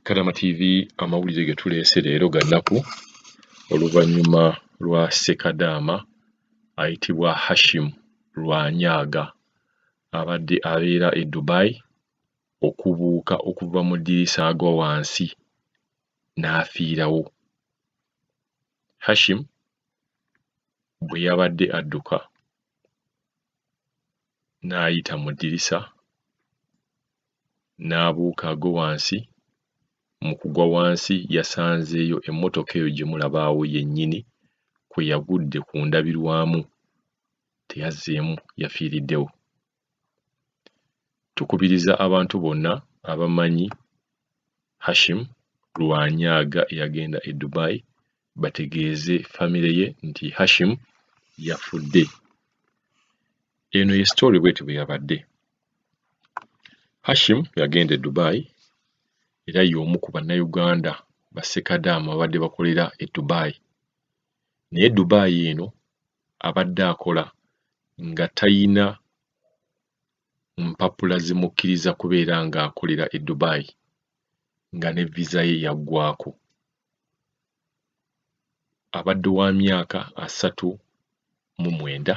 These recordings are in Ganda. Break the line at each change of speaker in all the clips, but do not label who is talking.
Kadama TV amawulire ge tuleese leero ga nnaku oluvannyuma lwa Ssekadaama ayitibwa Hashim Lwanyaaga abadde abeera e Dubai okubuuka okuva mu ddirisa agwa wansi n'afiirawo. Hashim bwe yabadde adduka n'ayita mu ddirisa n'abuuka agwe wansi, mu kugwa wansi yasanzeeyo emmotoka eyo gye mulaba awo yennyini kwe yagudde ku ndabirwamu, teyazzeemu yafiiriddewo. Tukubiriza abantu bonna abamanyi Hashim Lwanyaaga eyagenda e Dubai bategeeze famire ye nti Hashim yafudde. Eno ye sitoole bweti bwe yabadde. Hashim yagenda e Dubai era y'omu ku Bannayuganda bassekadaama ababadde bakolera e Dubai. Naye Dubai eno abadde akola nga talina mpapula zimukkiriza kubeera ng'akolera e Dubai nga ne viza ye yaggwaako. abadde wa myaka asatu mu mwenda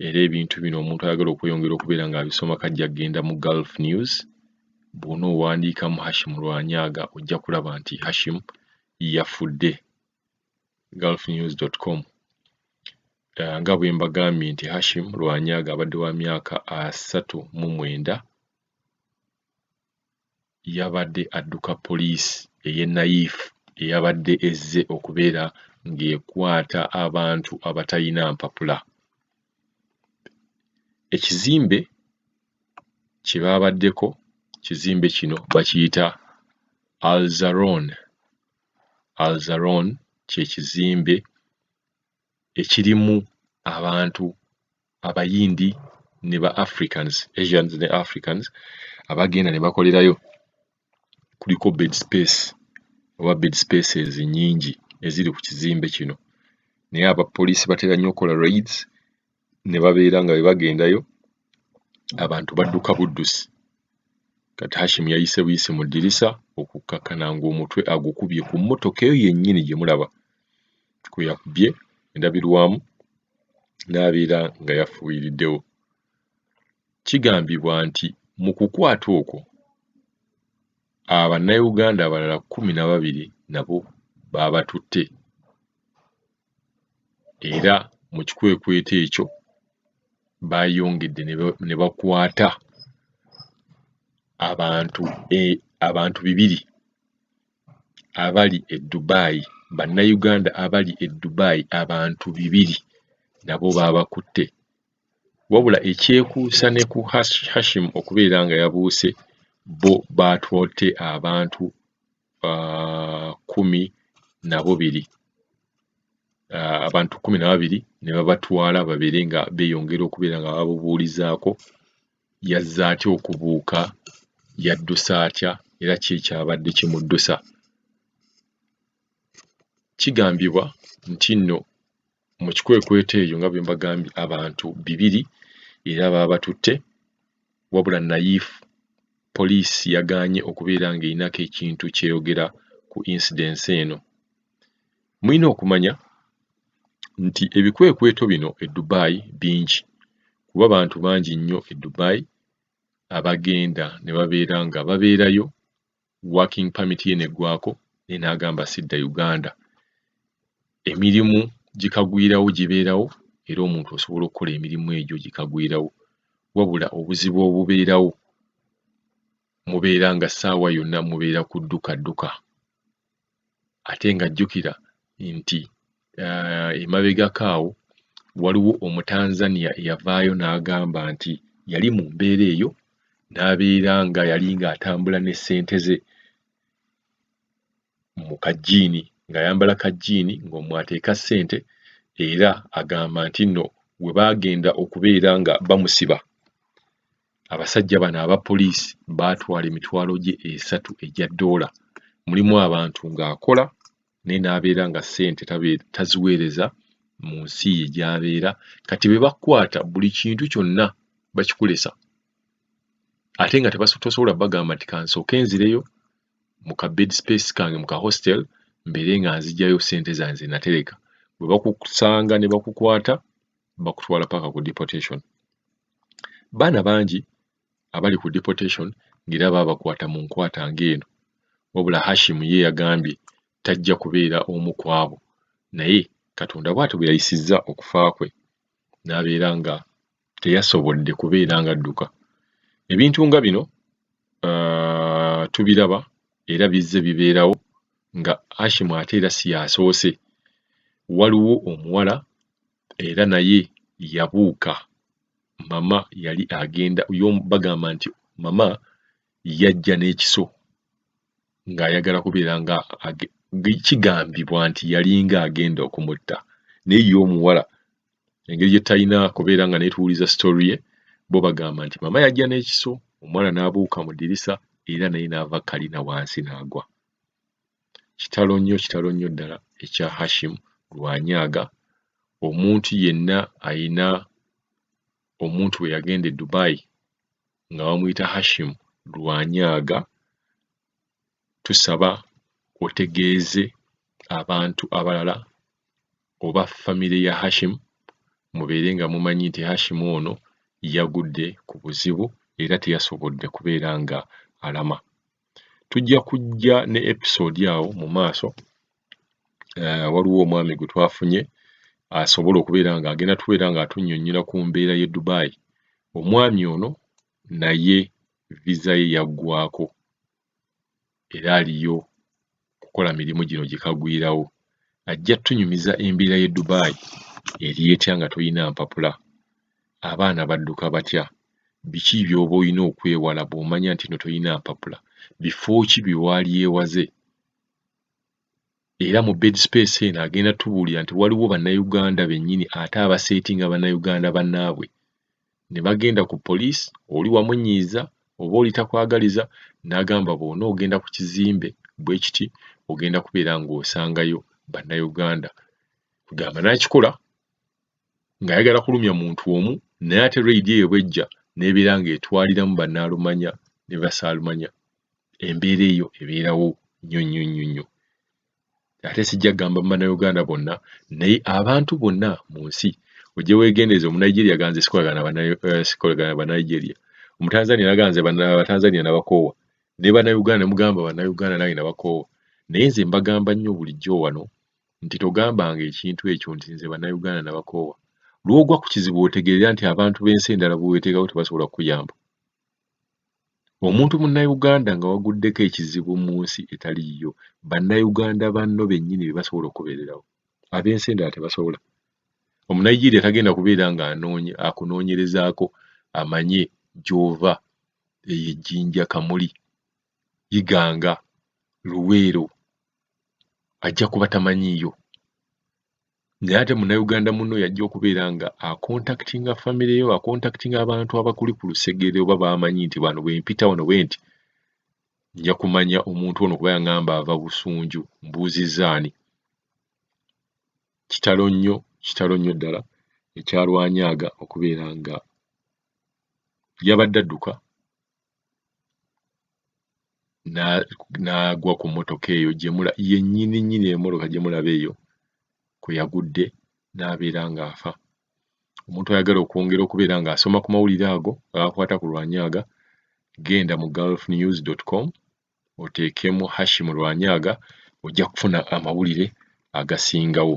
era ebintu bino omuntu ayagala okweyongera okubeera ng'abisoma kajja kugenda mu Gulf News bw'ona owandiikamu Hashim Lwanyaaga ojja kulaba nti Hashim yafudde gulfnews.com eh, nga bwe mbagambye nti Hashim Lwanyaaga abadde wa myaka asatu mu mwenda yabadde adduka poliisi ey'e Nayif eyabadde ezze okubeera ng'ekwata abantu abatalina mpapula. Ekizimbe kye baabaddeko, ekizimbe kino bakiyita Alzaron, Alzaron kye kizimbe ekirimu abantu Abayindi ne ba Africans, Asians ne Africans, abagenda ne bakolerayo. Kuliko bed space oba bed spaces nnyingi eziri ku kizimbe kino naye abapoliisi batera nnyo okukola raids. ne babeera nga bwe bagendayo abantu badduka buddusi. Kati Hashim yayise buyisi mu ddirisa okukkakkana ng'omutwe agukubye ku mmotoka eyo yennyini gye mulaba kwe yakubye endabirwamu n'abeera nga yafuuyiriddewo. Kigambibwa nti mu kukwata okwo abannayuganda abalala kkumi na babiri nabo baabatutte. era mu kikwekweto ekyo baayongedde ne bakwata abantu e abantu bibiri abali e Dubai Bannayuganda abali e Dubai abantu bibiri nabo baabakutte wabula ekyekuusa ne ku Hashi Hashim okubeera nga yabuuse bo baatwodde abantu. uh, kumi na bubiri uh, abantu kumi na babiri ne babatwala babeere nga beeyongera okubeera nga babubuulizaako yazze atya okubuuka yaddusa atya era ki ekyabadde kimuddusa kigambibwa nti nno mu kikwekweto eyo nga bwe mbagambye abantu bibiri era baabatutte wabula Nayif poliisi yagaanye okubeera ng'erinako ekintu ky'eyogera ku incidence eno. Mulina okumanya nti ebikwekweto bino e Dubai bingi kuba bantu bangi nnyo e Dubai abagenda ne babeera nga babeerayo working permit ye neggwako naye n'agamba sidda Uganda. Emirimu gikagwirawo gibeerawo era omuntu osobola okukola emirimu egyo gikagwirawo wabula obuzibu obubeerawo mubeera nga ssaawa yonna mubeera kudduka dduka. ate nga jjukira nti uh, emabegako awo waliwo omutanzania eyavaayo n'agamba nti yali mu mbeera eyo n'abeera nga yali ng'atambula ne ssente ze mu kajjiini ng'ayambala kajjiini ng'omwateeka ssente era agamba nti nno we baagenda okubeera nga bamusiba Abasajja bano aba poliisi baatwala emitwalo gye esatu egya ddoola. Mulimu abantu ng'akola naye n'abeera nga ssente taziweereza mu nsi ye gy'abeera. Kati be bakukwata buli kintu kyonna bakikulesa ate nga tosobola bagamba nti kansooke nzireyo mu ka bed space kange mu ka hostel mbeere nga nzigyayo ssente zange ze natereka. Bwe bakusanga ne bakukwata bakutwala paka ku deportation. Baana bangi abali ku deportation ng'era baabakwata mu nkwata ng'eno wabula Hashim ye yagambye tajja kubeera omu ku abo naye Katonda bw'atyo bwe yayisizza okufa kwe n'abeera nga teyasobodde kubeera ng'adduka. Ebintu nga bino uh, tubiraba era bizze bibeerawo nga Hashim ate era si yasoose. Waliwo omuwala era naye yabuuka mama yali agenda yo bagamba nti mama yajja n'ekiso ng'ayagala kubeera nga kigambibwa nti yalinga agenda okumutta naye ye omuwala engeri gye talina kubeera nga naye tuwuliza story ye bo bagamba nti mama yajja n'ekiso omwana n'abuuka mu ddirisa era naye n'ava kalina wansi n'agwa. Kitalo nnyo kitalo nnyo ddala ekya Hashim Rwanyaga. Omuntu yenna alina omuntu bwe yagenda e Dubai nga bamuyita Hashim Rwanyaga tusaba otegeeze abantu abalala oba famire ya Hashim mubeere nga mumanyi nti Hashim ono yagudde ku buzibu era teyasobodde kubeera nga alama. tujja kujja ne episode awo mu maaso eh, waliwo omwami gwe twafunye asobola okubeera nga agenda tubeera nga atunyonyola ku mbeera ye Dubai omwami ono naye visa ye yaggwako era aliyo kukola mirimu gino gye kagwirawo. Ajja tunyumiza embeera y'e Dubai eri etya nga tolina mpapula? Abaana badduka batya? Biki by'oba olina okwewala bw'omanya nti eno tolina mpapula? Bifo ki bye waalyewaze? Era mu Bed Space eno agenda tubuulira nti waliwo Bannayuganda bennyini ate abaseetinga Bannayuganda bannaabwe ne bagenda ku poliisi oli wamunyiiza oba oli takwagaliza n'agamba bw'onoogenda ku kizimbe bwe kiti ogenda kubeera ng'osangayo Bannayuganda kugamba n'akikola ng'ayagala kulumya muntu omu naye ate reyidi eyo bw'ejja n'ebeera ng'etwaliramu Bannaalumanya ne Basaalumanya embeera eyo ebeerawo nnyo nnyo nnyo nnyo. ate sijja kugamba mu bannayuganda bonna naye abantu bonna mu nsi ojje weegendereza omunigeria ganze sikolagana eh, bannaigeria omutanzania naganze abatanzania nabakoowa ne bannayuganda ne mugamba bannayuganda nange nabakoowa naye nze mbagamba nnyo bulijjo wano nti togambanga ekintu ekyo nti nze bannayuganda nabakoowa lwogwa ku kizibu otegeera nti abantu b'ensi endala bweweteekako tebasobola kukuyamba Omuntu Munnayuganda nga waguddeko ekizibu mu nsi etali yiyo, Bannayuganda banno bennyini be basobola okukubeererawo. Ab'ensi endala tebasobola. Omunayigiriya tagenda kubeera nga anoonye akunoonyerezaako amanye gy'ova eyo e Jinja, Kamuli, Iganga, Luweero ajja kuba tamanyiiyo. naye ate munnayuganda munno yajja okubeera nga akontakitinga famire yo akontakitinga abantu abakuli ku lusegere oba baamanyi nti bano bwe mpita wano bwe nti nja kumanya omuntu ono kuba yangamba ava busunju mbuuzizza ani kitalo nnyo kitalo nnyo ddala ekyalwanyaaga okubeera nga yabadde adduka n'agwa ku mmotoka eyo gyemula yennyini nnyini emmotoka gye mulaba eyo kwe yagudde n'abeera ng'afa omuntu ayagala okwongera okubeera ng'asoma ku mawulire ago gaakwata ku lwanyaaga genda mu gulf news com oteekemu hashim lwanyaaga ojja kufuna amawulire agasingawo